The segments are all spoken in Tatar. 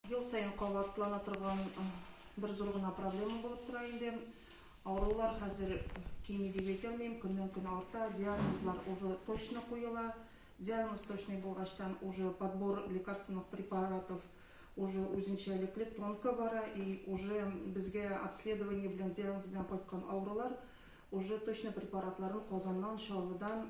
Ел саен кабатлана торган бер зур гына проблема булып тора инде. Авырулар хәзер кими дип әйтәлмим, көннән-көн арта, диагнозлар уже точно куела. Диагноз точный булгачтан уже подбор лекарственных препаратов уже үзенчәлекле тонко бара и уже безгә обследование белән диагноз белән кайткан авырулар уже точно препаратларын Казаннан, Чаллыдан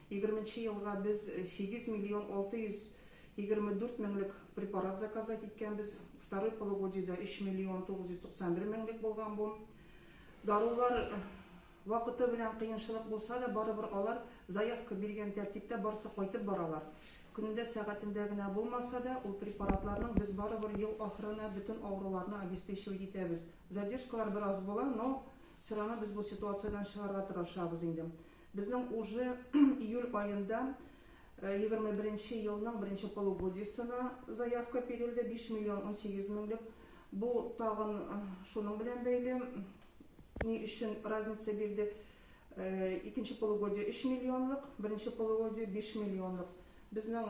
Егерменче елга без сигез миллион алты йөз егерме дүрт меңлек препарат заказать иткәнбез, второй полугодиедә өч миллион тугыз йөз туксан бер меңлек булган бу. Дарулар вакыты белән кыенчылык булса да, барыбер алар заявка биргән тәртиптә барсы кайтып баралар. Көнендә, сәгатендә генә булмаса да, ул препаратларның без барыбер ел ахырына бөтен авыруларны обеспечивать итәбез. Задержкалар бераз була, но все равно без бу ситуациядән чыгарга тырышабыз инде. Безнең уже июль аенда егерме беренче елның беренче полугодиесына заявка бирелде, биш миллион унсигез меңлек. Бу тагын шуның белән бәйле, ни өчен разница бирде. Икенче полугодие өч миллионлык, беренче полугодие биш миллионлык. Безнең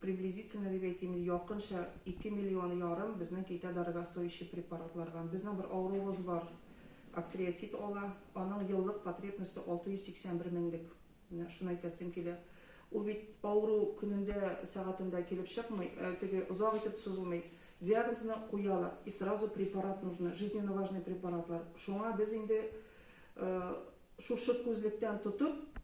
приблизительно дип әйтим инде, якынча ике миллион ярым безнең китә дорогостоящий препаратлардан. Безнең бер авыруыбыз бар, актриотит ала, аның еллык потребносте 681 меңлек. Менә шуны әйтәсем килә. Ул бит авыру көнендә, сәгатендә килеп чыкмый, теге озак итеп сузылмый. Диагнозны куялар, и сразу препарат нужно, жизненно важный препаратлар. Шуңа без инде шушы күзлектән тотып,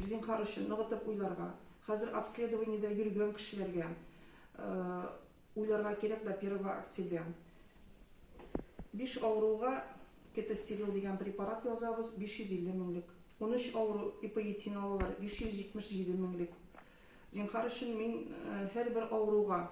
Зинһар өчен ныгытып уйларга. Хәзер обследованиедә йөргән кешеләргә уйларга кирәк до 1 октября. Биш авыруга кетостерил дигән препарат язабыз, 550 меңлек. Унөч авыру ипоетин алалар, 577 меңлек. Зинһар өчен мин һәрбер авыруга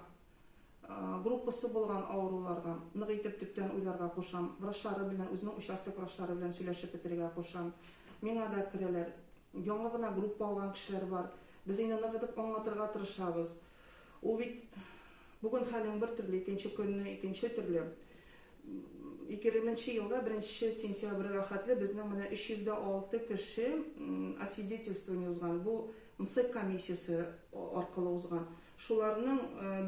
группасы булган авыруларга нык итеп төптән уйларга кушам, врачлары белән, үзенең участок врачлары белән сөйләшеп бетерергә кушам. Миңа да керәләр. Яңа гына группа алган кешеләр бар. Без инде нык итеп аңлатырга тырышабыз. Ул бит бүген хәлең бер төрле, икенче көнне икенче төрле. 20 нче елда 1 нче сентябрьгә хәтле безнең менә 306 кеше освидетельствование узган. Бу МСЭК комиссиясе аркылы узган. Шуларның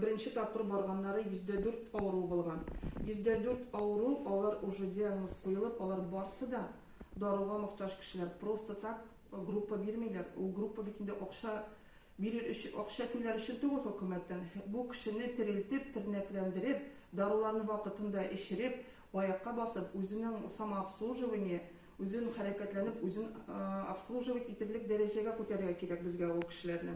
беренче тапкыр барганнары йөз дә дүрт авыруы булган. Йөз дә дүрт авыру, алар уже диагноз куелып, алар барсы да даруга мохтаҗ кешеләр. Просто так группа бирмиләр. Ул группа бит инде акча бирер өчен, акча түләр өчен түгел хөкүмәттән. Бу кешене терелтеп, тернәкләндереп, даруларны вакытында эчереп, аякка басып, үзенең самообслуживание, үзен хәрәкәтләнеп, үзен обслуживать итерлек дәрәҗәгә күтәрергә кирәк безгә ул кешеләрне.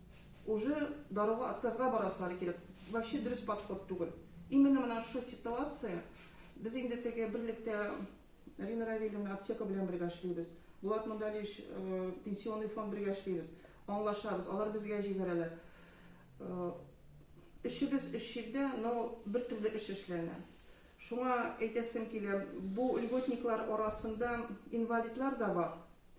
Уже даруга отказга барасылары килеп, вообще дөрес подход түгел. Именно менә шушы ситуация, без инде теге берлектә Рина Равилевна аптека белән бергә эшлибез. Булат Мандалевич пенсионный фонд бергә эшлибез. Аңлашабыз, алар безгә җибәрәләр. Өчебез өч җирдә, но бер төрле эш эшләнә. Шуңа әйтәсем килә, бу льготниклар арасында инвалидлар да бар.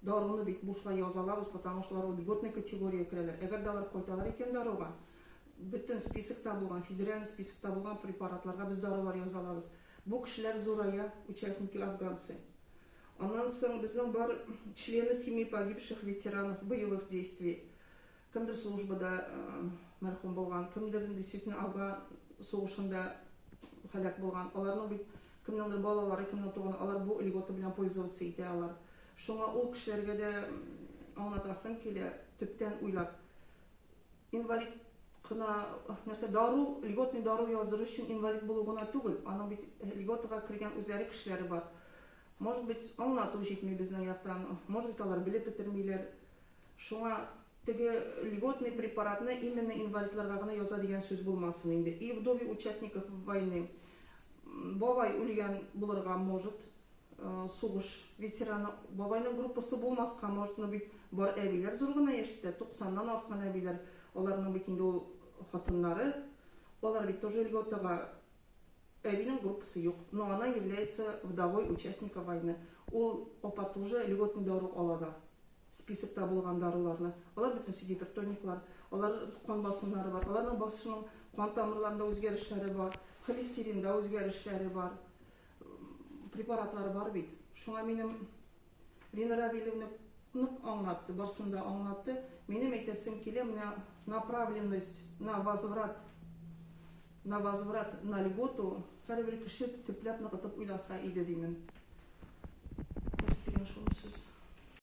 Даруны бит бушлай язалар, потому что алар льготный категориягә керәләр. Әгәр дә алар кайталар икән даруга, бөтен списокта булган, федеральный списокта булган препаратларга без дарулар яза алабыз. Бу кешеләр зурая, участники афганцы. Аннан соң безнең бар члены семей погибших ветеранов боевых действий. Кемдер службада мәрхүм булган, кемдер инде честно Афган сугышында һәлак булган. Аларның бит кемнеңдер балалары, кемнең туганы, алар бу льгота белән пользоваться итә алар. Шуңа ул кешеләргә дә аңлатасым килә, төптән уйлап. Инвалид кына нәрсә дару, льготный дару яздыру өчен инвалид булу гына түгел, аның бит льготага кергән үзләре кешеләре бар. Может быть, аңлату җитми безнең яктан, может быть, алар белеп бетермиләр. Шуңа теге льготный препаратны именно инвалидларга гына яза дигән сүз булмасын инде. И вдове участников войны. Бабай үлгән булырга может, сугыш ветераны. Бабайның группасы булмаска может, но бит бар әбиләр зур гына яшьтә, 90 нан арткан әбиләр. Аларның бит инде ул хатыннары. Алар бит тоже льготага. Әбинең группасы юк, но она является вдовой участника войны. Ул апа тоже льготный дару ала да. списокта булган даруларны, алар бөтенесе гипертониклар, алар кан басымнары бар, аларның басышының кан тамырларында үзгәрешләре бар, холестеринда үзгәрешләре бар, препаратлар бар бит. Шуңа минем Лина Равильевна нык аңлатты, барсын да аңлатты. Минем әйтәсем килә, менә направленность на возврат, на возврат на льготу һәрбер кеше төпләп ныгытып уйласа иде, димен.